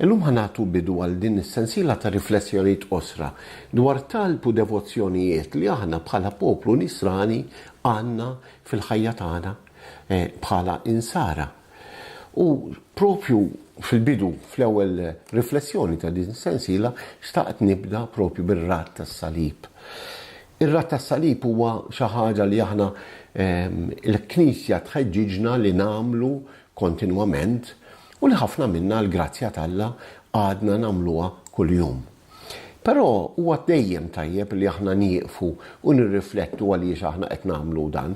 Illum ħa nagħtu bidu għal din is-sensiela ta' riflessjonijiet qosra dwar talb u devozzjonijiet li aħna bħala poplu Nisrani għandna fil-ħajja tagħna bħala Insara. U propju fil-bidu, fl-ewwel riflessjoni ta' din is-sensiela, xtaqt nibda propju bir-Rat tas-Salib. Ir-Rat tas-Salib huwa xi ħaġa li aħna l-Knisja tħeġġiġna li nagħmlu kontinwament u li ħafna minna għall-grazzja t'Alla għadna nagħmluha kuljum. Però huwa dejjem tajjeb li aħna nieqfu u nirriflettu għaliex aħna qed nagħmlu dan,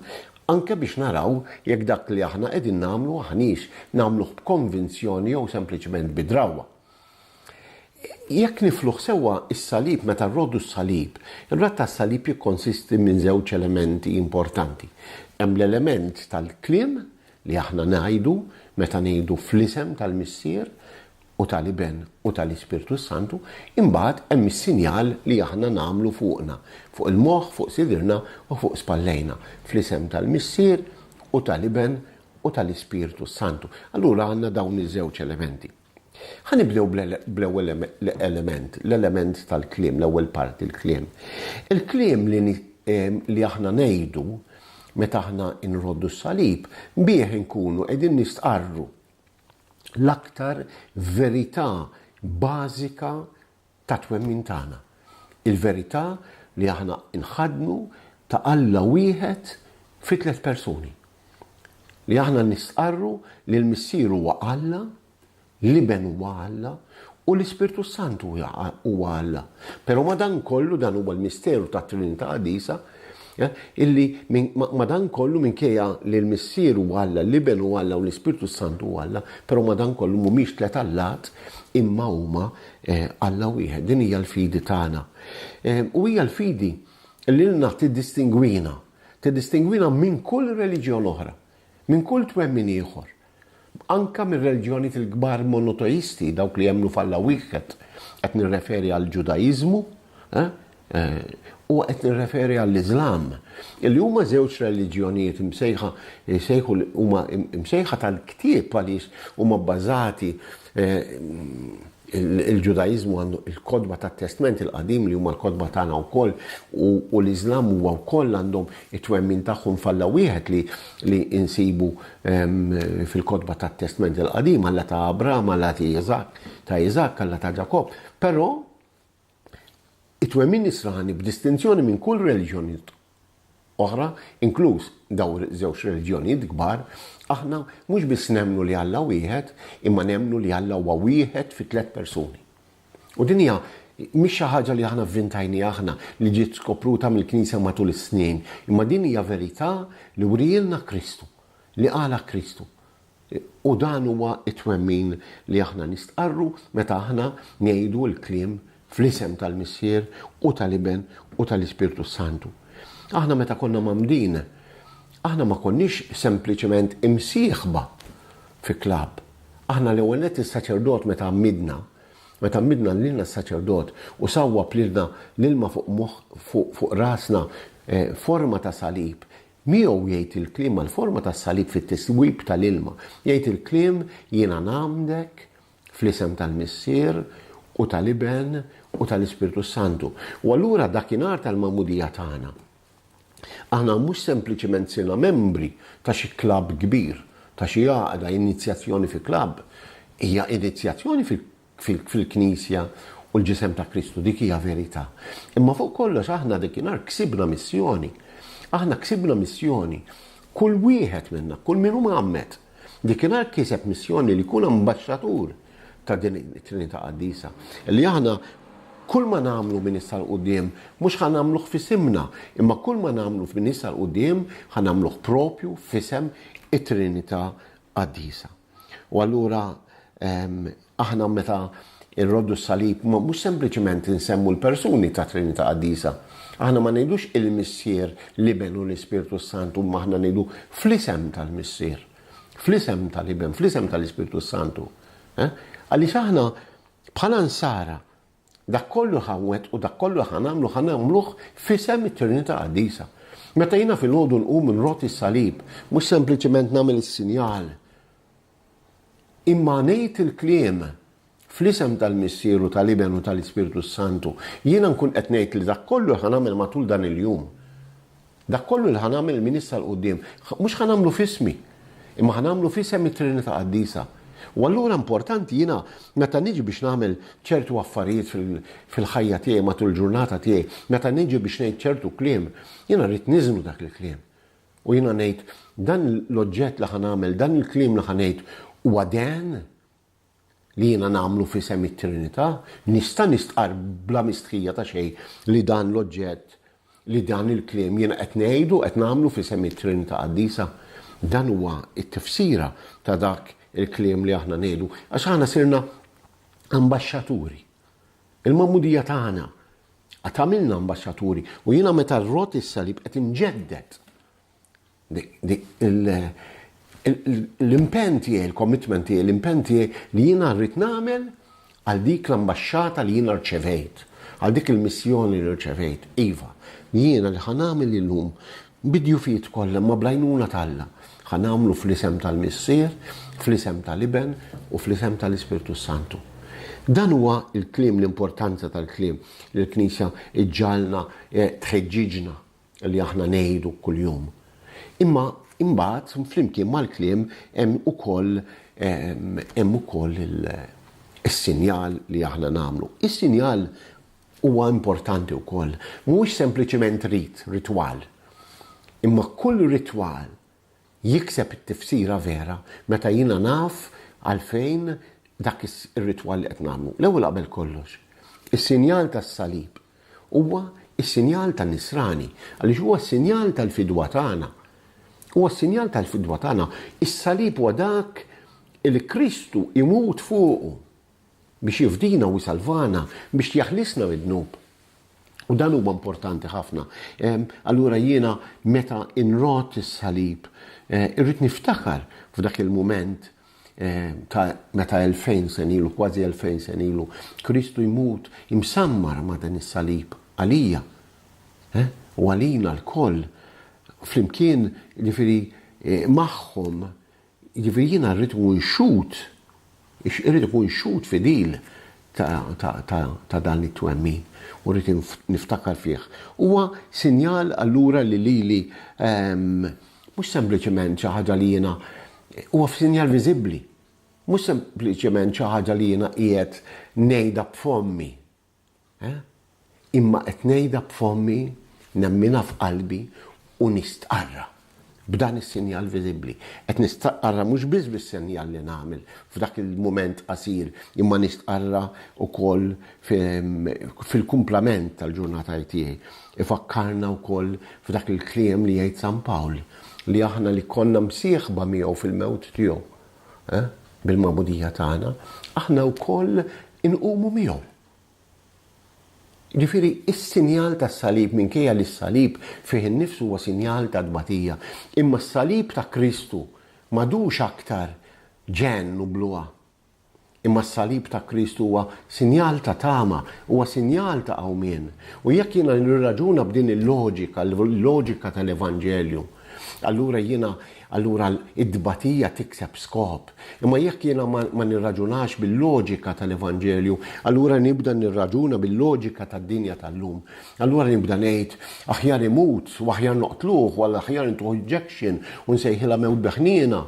anke biex naraw jekk dak li aħna qegħdin nagħmlu aħniex nagħmluh b'konvinzjoni jew sempliċement bi drawwa. Jekk nifluh sewwa, is-salib, meta rrodu s-salib, ir-radd tas-salib jikkonsisti minn żewġ elementi importanti. Hemm l-element tal-kliem, li aħna ngħidu meta ngħidu fl-isem tal-Missier u tal-Iben u tal-Ispirtu s-Santu, imbagħad hemm is-sinjal li aħna nagħmlu fuqna, fuq il-moħħ, fuq sidrna u fuq spallejna, fl-isem tal-Missier u tal-Iben u tal-Ispirtu s-Santu. Allura għandna dawn iż-żewġ elementi. Ħa nibdew bl-ewwel element, l-element tal-kliem, l-ewwel parti, l-kliem. Il-kliem li aħna ngħidu meta aħna nroddu s-salib, bih inkunu qegħdin nistqarru l-aktar verità bażika tat-twemmin tagħna, il-verità li aħna nħaddnu ta' Alla wieħed fi tliet persuni, li aħna nistqarru li l-Missier huwa Alla, l-Iben huwa Alla, u l-Ispirtu s-Santu huwa Alla. Però madankollu dan huwa l-misteru tat-Trinità Qadisa Illi madankollu minkejja li l-Missier hu Alla, l-Iben hu Alla u l-Ispirtu s-Santu hu Alla, però madankollu mhumiex tliet allat imma huma Alla wieħed. Din hija l-fidi tagħna. U hija l-fidi li lilna tiddistingwina, tiddistingwina minn kull reliġjon oħra, minn kull twemmin ieħor. Anke mir-reliġjonijiet il-kbar monoteisti, dawk li jemmnu f'Alla wieħed, qed nirreferi għall-Ġudaiżmu u qed nirreferi għall-Iżlam, li huma żewġ reliġjonijiet imsejħa, jsejħu, huma msejħa tal-ktieb għaliex huma bbażati Il-Ġudaiżmu għandu il-kotba tat-Testment il-Qadim li huma l-kotba tagħna wkoll u l-Iżlam huwa wkoll għandhom it-twemmin tagħhom f'Alla wieħed li nsibu fil-kotba tat-Testment il-Qadim, Alla ta' Abraham, Alla ta' Iżakk, ta' Iżakk, Alla ta' Ġakobb. Però. It-twemmin Nisrani, b'distinzjoni minn kull reliġjonijiet oħra, inkluż dawn żewġ reliġjonijiet kbar, aħna mhux biss nemmnu li Alla wieħed, imma nemmnu li Alla huwa wieħed fi tliet persuni. U din hija mhix xi ħaġa li aħna vvintajniha aħna, li ġiet skopruta mill-Knisja matul is-snin, imma din hija verità li wrielna Kristu, li qalha Kristu. U dan huwa t-twemmin li aħna nistqarru meta aħna ngħidu l-kliem fl-isem tal-Missier u tal-Iben u tal-Ispirtu s-Santu. Aħna meta konna mgħammdin, aħna ma konniex sempliċement imsieħba fi klabb. Aħna l-ewwel nett is-saċerdot meta għammidna, meta għammidna lilna s-saċerdot u sawwab lilna l-ilma fuq moħħ, fuq rasna, forma ta' salib, Miegħu jgħid il-kliem mal-forma tas-salib fit-tiswib tal-ilma. Jgħid il-kliem, Jiena ngħammdek fl-isem tal-Missier u tal-Iben u tal-Ispirtu s-Santu. U allura dakinhar tal-Magħmudija tagħna, aħna mhux sempliċement sirna membri ta' xi klabb kbir, ta' xi għaqda, inizjazzjoni fi klabb. Hija inizjazzjoni fil-Knisja. fil-Knisja u l-Ġisem ta' Kristu, dik hija verità. Imma fuq kollox aħna dakinhar ksibna missjoni. Aħna ksibna missjoni. Kull wieħed minna, kull min hu mgħammed, dakinhar kiseb missjoni li jkun ambaxxatur ta' din it-Trinità Qaddisa. Li aħna kull ma nagħmlu minn issa l quddiem mhux ħa nagħmluh f'isimna, imma kull ma nagħmlu minn issa l quddiem ħa nagħmluh propju f'isem it-Trinità Qaddisa. U allura aħna meta nroddu s-salib mhux sempliċement insemmu l-persuni tat-Trinità Qaddisa. Aħna ma ngħidux il-Missier, l-Iben u l-Ispirtu s-Santu, imma aħna ngħidu fl-isem tal-Missier, fl-isem tal-Iben, fl-isem tal-Ispirtu s-Santu. Eh? Għaliex aħna bħala nsara Dak kollu ħa nwettqu, dak kollu li ħa nagħmlu, ħa nagħmluh f'isem it-Trinità Qaddisa. Meta jiena filgħodu nqum nroti s-salib, mhux sempliċement nagħmel is-sinjal, imma ngħid il-kliem, Fl-isem tal-Missier u tal-Iben u tal-Ispirtu s-Santu, jiena nkun qed ngħid li dak kollu li ħa nagħmel matul dan il-jum, Dak kollu li ħa nagħmel minn issa 'l quddiem, mhux ħa nagħmlu f'ismi, imma ħa nagħmlu f'isem it-Trinità Qaddisa. U allura importanti jiena meta niġi biex nagħmel ċertu affarijiet fil-ħajja tiegħi matul il-ġurnata tiegħi, meta niġi biex ngħid ċertu kliem, jiena rrid niżnu dak il-kliem. U jiena ngħid, dan l-oġġett li ħa nagħmel, dan il-kliem li ħa ngħid huwa dehn li jiena nagħmlu f'isem it-Trinità, nista' nistqarr bla mistħija ta' xejn li dan l-oġġett, li dan il-kliem jiena qed ngħid u qed nagħmlu f'isem it-Trinità Qaddisa. Dan huwa t-tifsira ta' dak il-kliem li aħna ngħidu, għax aħna sirna ambaxxaturi. Il-magħmudija tagħna tagħmilna ambaxxaturi u jiena meta rrott is-salib qed inġedded L-impenn tiegħi, il-commitment tiegħi, l-impenn tiegħi li jiena rrid nagħmel għal dik l-ambaxxata li jiena rċevejt, għal dik il-missjoni li rċevejt. Iva, jiena li ħa nagħmel illum, bid-djufijiet kollha imma bl-għajnuna t'Alla, ħa nagħmlu fl-isem tal-Missier, fl-isem tal-Iben u fl-isem tal-Ispirtu s-Santu. Dan huwa l-kliem, l-importanza tal-kliem li l-Knisja ġġagħalna tħeġġiġna. li aħna ngħidu kuljum. Imma imbagħad flimkien mal-kliem hemm ukoll hemm ukoll is-sinjal li aħna nagħmlu. Is-sinjal huwa importanti wkoll, mhuwiex sempliċiment rit, ritwal. Imma kull ritwal jikseb it-tifsira vera meta jiena naf għalfejn dak ir-ritwal li qed nagħmlu. L-ewwel qabel kollox, is-sinjal tas-salib huwa s-sinjal tan-Nisrani għaliex huwa s-sinjal tal-fidwa tagħna. Huwa s-sinjal tal-fidwa tagħna. Is-salib huwa dak li Kristu jmut fuqu. biex jifdina u jsalvana, biex jaħlisna mid-dnub. U dan huwa importanti ħafna. Allura jiena meta inrott is-salib, irrid niftakar f'dak il-mument ta' meta elfejn sen ilu, kważi elfejn sen ilu, Kristu jmut imsammar ma' dan is-salib għalija u għalina lkoll flimkien, jiġifieri magħhom Jiġifieri jiena rrid nkun xhud, irrid ikun xhud fidil ta' dan it-twemmin u rrid niftakar fih. Huwa sinjal allura li lili mhux sempliċement xi ħaġa li jiena, huwa f'sinjal viżibbli, mhux sempliċement xi ħaġa li jiena qiegħed ngħidha b'fommi, Imma qed ngħidha b'fommi, nemminha f'qalbi u nistqarrha b'dan is-sinjal viżibbli. Qed nistqarrha mhux biss bis-sinjal li nagħmel f'dak il-mument qasir, imma nistqarrha wkoll fil-kumplament tal-ġurnatajiet tiegħi. Ifakkarna wkoll f'dak il-kliem li jgħid San Pawl, li aħna li konna msieħba miegħu fil-mewt tiegħu. bil-magħmudija tagħna, aħna wkoll inqumu miegħu. Jiġifieri s-sinjal tas-salib, minkejja li s-salib fih innifsu huwa sinjal ta' tbatija, imma s-salib ta' Kristu m'għadux aktar ġenn u bluha. Imma s-salib ta' Krist huwa sinjal ta' tama, huwa sinjal ta' qawmien. U jekk jiena nirraġuna b'din il-loġika, l-loġika tal-Evanġelju, allura jiena, allura t-tbatija tikseb skop. Imma jekk jiena ma nirraġunax bil-loġika tal-Evanġelju, allura nibda nirraġuna bil-loġika tad-dinja tal-lum. Allura nibda ngħid, aħjar imut, u aħjar noqtluh, u aħjar intuh injection, u nsejħilha mewt bi ħniena.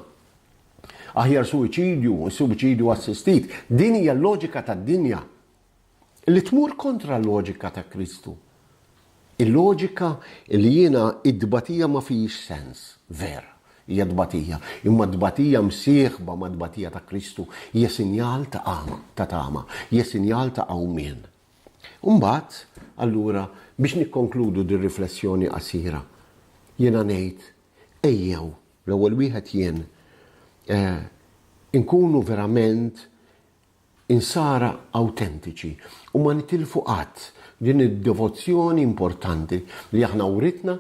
Aħjar suwiċidju, suwiċidju assistit. Din hija l-loġika tad-dinja li tmur kontra l-loġika ta' Kristu. Il-loġika li jiena id-dbatija ma fihiex sens, vera hija tbatija, imma tbatija msieħba ma' tbatija ta' Kristu hija sinjal ta' għama, ta' tama, hija sinjal ta' qawmien. Imbagħad, allura, biex nikkonkludu dir-riflessjoni qasira, jiena ngħid ejjew L-ewwel wieħed jien. Inkunu verament insara awtentiċi u ma nitilfu qatt din id-devozzjoni importanti li aħna writna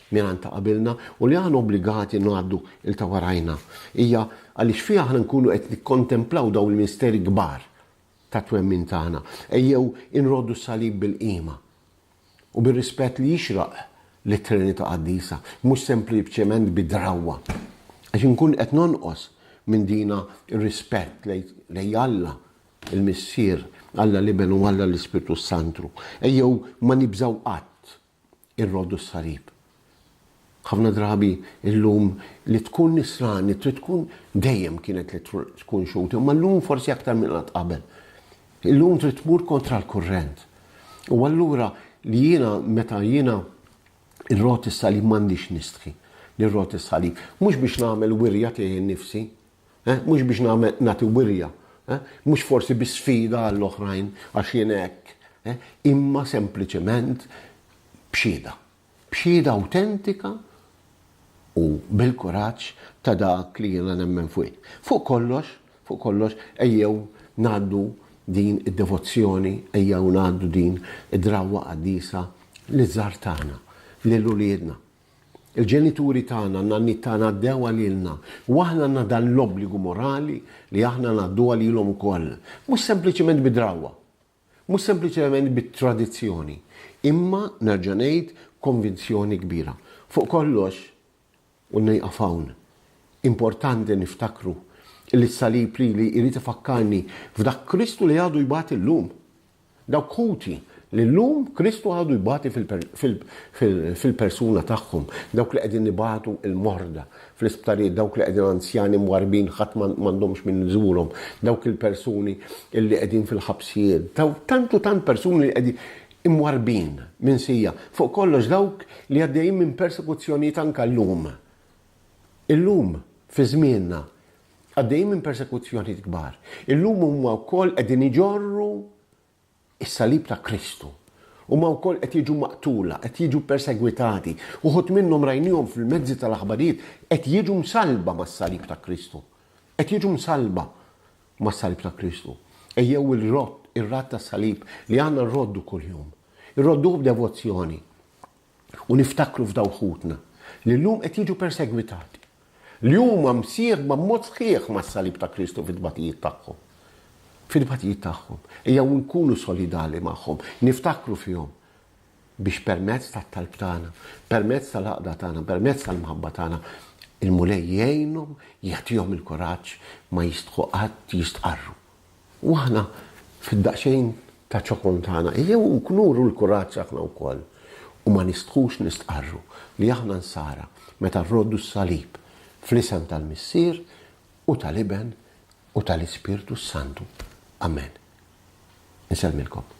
mingħand ta' qabilna u li aħna obbligati ngħaddu il ta' warajna. Hija għaliex fiha aħna nkunu qed nikkontemplaw dawn il-misteri kbar tat-twemmin tagħna. Ejjew inroddu s-salib bil-qima. u bir-rispett li jixraq lit-Trinità Qaddisa, mhux sempliċement bi drawwa, għax inkun qed nonqos minn dina r-rispett lejn Alla l-Missier, Alla l-Iben u Alla l-Ispirtu s-Santru. Ejjew ma nibżgħu qatt irroddu s-salib. Ħafna drabi llum li tkun nisrani trid tkun dejjem kienet li tkun Xhud, imma llum forsi aktar minn qatt qabel. Illum trid tmur kontra l-kurrent. U allura li jiena meta jiena rrot is-salib m'għandix nistħi li rrot is-salib. Mhux biex nagħmel wirja tiegħi nnifsi, eh, mhux biex nagħmel nagħti wirja, eh, mhux forsi bi sfida għall-oħrajn għax jien hekk, eh, imma sempliċement b'xhieda. b'xhieda awtentika u bil-kuraġġ ta' dak li jiena nemmen fuih. Fuq kollox, fuq kollox, ejjew ngħaddu din id-devozzjoni, ejjew ngħaddu din id-drawwa qaddisa liż-żgħar tagħna, lil uliedna. Il-ġenituri tagħna, n-nanniet tagħna għaddew għalilna u aħna għandna dan l-obbligu morali li aħna ngħadduha lilhom ukoll, mhux sempliċement bi drawwa, Mhux sempliċement bi tradizzjoni, imma, nerġa' ngħid, konvinzjoni kbira. Fuq kollox, u nieqaf hawn, importanti niftakru li s-salib lili jrid ifakkarni f'dak Kristu li għadu jbati llum. Dawk ħuti li llum Kristu għadu jbati fil-persuna tagħhom, dawk li qegħdin ibatu l-morda, fl-isptarijiet, dawk li qegħdin anzjani mwarrbin ħadd m'għandhomx min iżurhom, dawk il-persuni li qegħdin fil-ħabsijiet, dawk tant u tant persuni li qegħdin imwarrbin, minsija, fuq kollox dawk li għaddejjin minn persekuzzjonijiet anke llum. Illum, fi żmienna, għaddejjin minn persekuzzjonijiet kbar. Illum huma wkoll qegħdin iġorru is-salib ta' Kristu. Huma wkoll qed jiġu maqtula, qed jiġu persegwitati. Uħud minnhom rajniehom fil-mezzi tal-aħbarijiet qed jiġu msallba mas-salib ta' Kristu. Qed jiġu msallba mas-salib ta' Kristu. Ejjew ir-rodd, ir-radd tas-salib li aħna nroddu kuljum. Irrodduh b'devozzjoni. u niftakru f'dawk ħutna li llum qed jiġu persegwitati, li huma msieħba b'mod sħiħ mas-salib ta' Kristu fit-tbatijiet tagħhom. Fit-tbatijiet tagħhom. Ejjew inkunu solidali magħhom, niftakru fihom, biex permezz tat-talb tagħna, permezz tal-għaqda tagħna, permezz tal-mħabba tagħna, il-Mulej jgħinhom, jagħtihom il-kuraġġ ma jistħu qatt jistqarru. U aħna fid-daqsxejn ta' ċokon tagħna ejjew nuru l-kuraġġ aħna wkoll u ma nistħux nistqarru li aħna nsara meta nroddu s-salib fl-isem tal-Missier u tal-Iben u tal-Ispirtu s-Santu. Amen. Insellmilkom.